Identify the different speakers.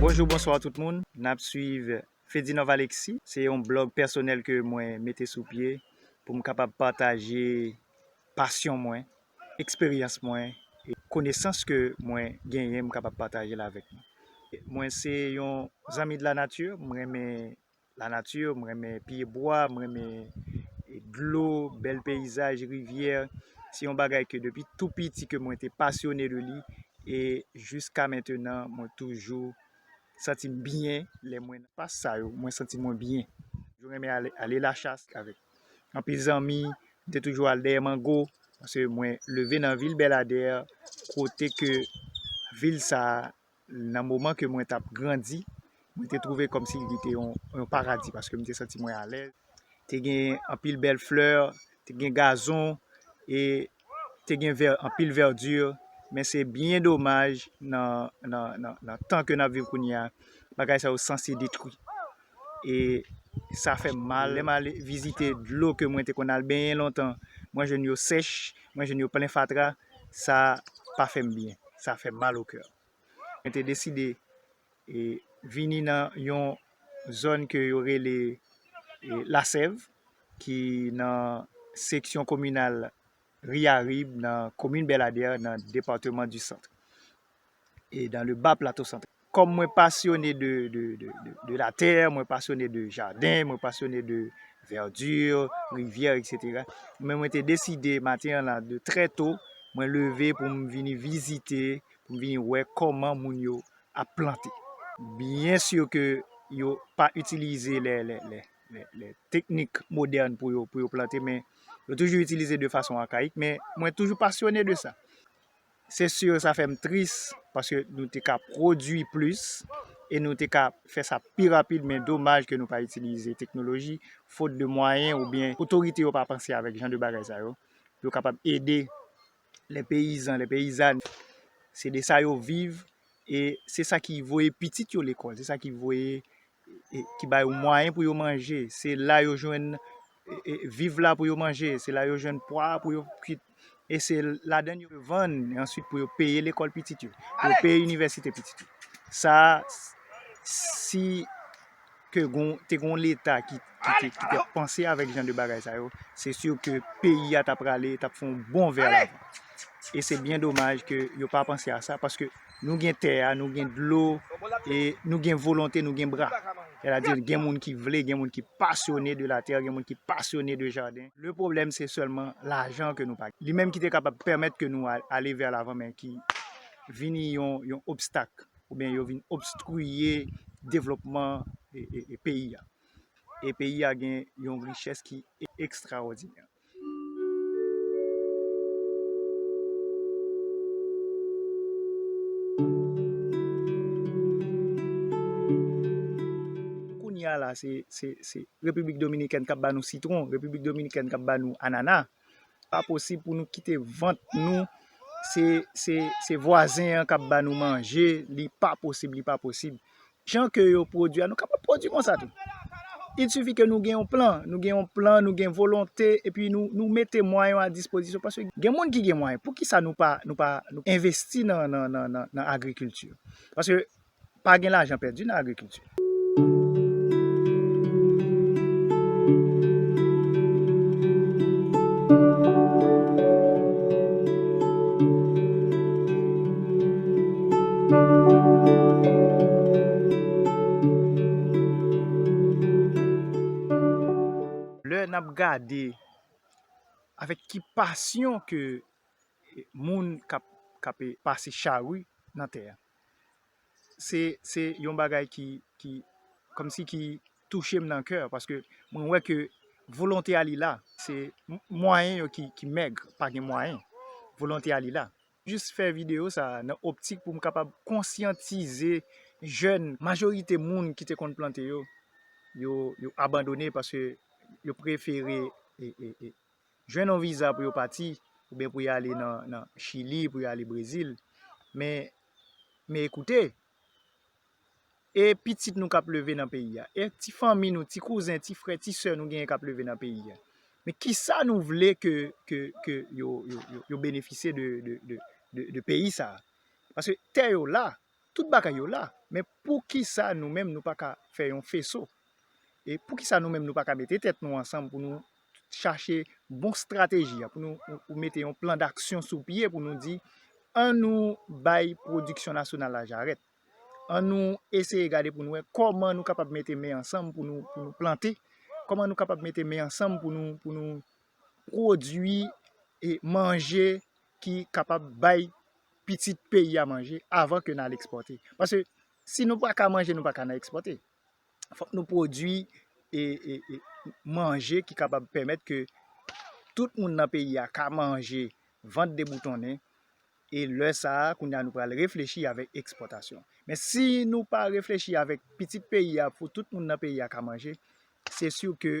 Speaker 1: Bonjou bonswa tout moun, n ap swiv Fedinov Alexis se yon blog pèsonèl ke mwen mete sou pye pou m kapab pataje pasyon mwen eksperyans mwen e konesans ke mwen genyen m kapab pataje l avèk nou. Mwen se yon zanmi de la nature, m renmen la nature, m renmen pye bwa, m renmen dlo, bèl peyizaj, rivyè. Se yon bagay ke depi tou piti ke mwen te pasyone de li e jiska mentenan mwen toujou santi m byen lè mwen nan espas sa yo, mwen santi mwen byen. Mwen renmen ale la chasse avèk. anpil zanmi, m te toujou al dèyè mango, paske mwen leve nan vil Belladère, kote ke vil sa, nan moman ke mwen tap grandi, mwen te twouve kòm si li te yon paradi, paske m te santi mwen alèz, te gen anpil bèl flè, te gen gazon, e te gen vè anpil verdure men se byen domaj nan nan tan ke nap viv kounye a bagay sa yo sanse detwi e sa fèm mal lèm al vizite dlo ke mwen te konn al benyen lontan mwen jwenn yo sèch mwen jwenn yo plen fatra sa pa fèm byen sa fèm mal o kè mwen te deside E vini nan yon zòn ke yo rele Lasèv ki nan seksyon kominal Riyarib nan komin Bèladè nan departeman di Sant. E dan le ba plato Sant. Kòm mwen pasyone de la tè, mwen pasyone de jaden, mwen pasyone de vèdi, rivyè, etc. Men mwen te deside maten an la de trè to mwen leve pou m vini vizite, pou m vini wè kòman moun yo ap plante. Byen sur ke yo pa itilize lè teknik modern pou yo plante men yo toujou itilize de fason akayik men mwen toujou pasyone de sa. Se sur sa fèm tris paske nou te ka pwodwi plis e nou te ka fè sa pi rapid men domaj ke nou pa itilize teknoloji fot de mwayen oubyen otorite yo pa panse avèk jan de bagay sa yo pou yo kapab ede Les paysans, les paysannes, se de sa yo viv e se sa ki voye pitit yo lekòl, se sa ki voye, ki ba yo mwayen pou yo manje, se la yo jwenn viv la pou yo manje, se la yo jwenn pwa pou yo kwit e se ladan l yo vann e answit pou yo peye lekòl pitit yo, pou yo peye inivèsite pitit yo. Sa a, si ke te gon leta ki te panse avèk jan de bagay sa yo, se sur ke peyi a ta prale, ta fon bon vè la. E se byen domaj ke yo pa panse a sa, paske nou gen tè a, nou gen dlo, e nou gen volonte, nou gen bra. E la di gen moun ki vle, gen moun ki pasyone de la tè, gen moun ki pasyone de jaden. Le pwoblèm se sèlman lajan ke nou pa gen. Li menm ki te kapab pèmèt ke nou ale vè la van men ki vini yon obstak. ou byen yo vin obstriye devlopman peyi a. E peyi a gen yon richès ki ekstraòdinè. Kounye a la se Repiblik Dominikèn k ap ba nou sitwon, Repiblik Dominikèn k ap ba nou anana. pa posib pou nou kite vant nou se vwazen an kap ba nou manje li pa posib li pa posib jan ke yo pwodwi a nou kapab pwodwi konsa tou il sifi ke nou gen yon plan nou gen yon plan nou gen volonte epi nou mete mwayon a dispozisyon paske gen moun ki gen mwayon poukisa nou pa nou pa investi nan agrikilti paske Pa gen lajan pèdi nan agrikilti. Lè n ap gade avèk ki pasyon ke moun k ap pase chari nan tè a. se se yon bagay ki ki kòmsi ki touche m nan kè paske mwen wè ke volonte a li la se mwayen yo ki ki mèg pa gen mwayen volonte a li la jis fè video sa nan optik pou m kapab konsyantize jèn majorite moun ki te konn plante yo yo yo abandone paske yo prefere e e e. jwenn yon viza pou yo pati, oubyen pou yo ale nan chili, pou yo ale brezil, men, men ekoute, e pitit nou kap leve nan peyi a, e ti fanmi nou, ti kouzen, ti frè, ti sè nou genyen kap leve nan peyi a, men kisa nou vle ke, ke, ke yo, yo, yo benefisye de, de, de peyi sa a, paske tè yo la, Tout bagay yo la, men poukisa nou menm nou pa ka fè yon feso? E poukisa nou menm nou pa ka mete tèt nou ansanm pou nou chache bon strateji a, pou nou mete yon plan daksyon sou pye pou nou di, an nou bay pwodiksyon nasyonal la jarèt, an nou eseye gade pou nou wè kòman nou kapab mete men ansanm pou nou plante, kòman nou kapab mete men ansanm pou nou pwodui e manje ki kapab bay pitit peyi a manje avan ke n al ekspòte. Pase, si nou pa ka manje, nou pa ka nan ekspòte. Fòk nou pwodui manje ki kapab pèmèt ke tout moun nan peyi a ka manje vant deboutonnen, e lè sa a, kounye a nou pral reflechi avèk ekspòtasyon. Men si nou pa reflechi avèk pitit peyi a pou tout moun nan peyi a ka manje, se siu ke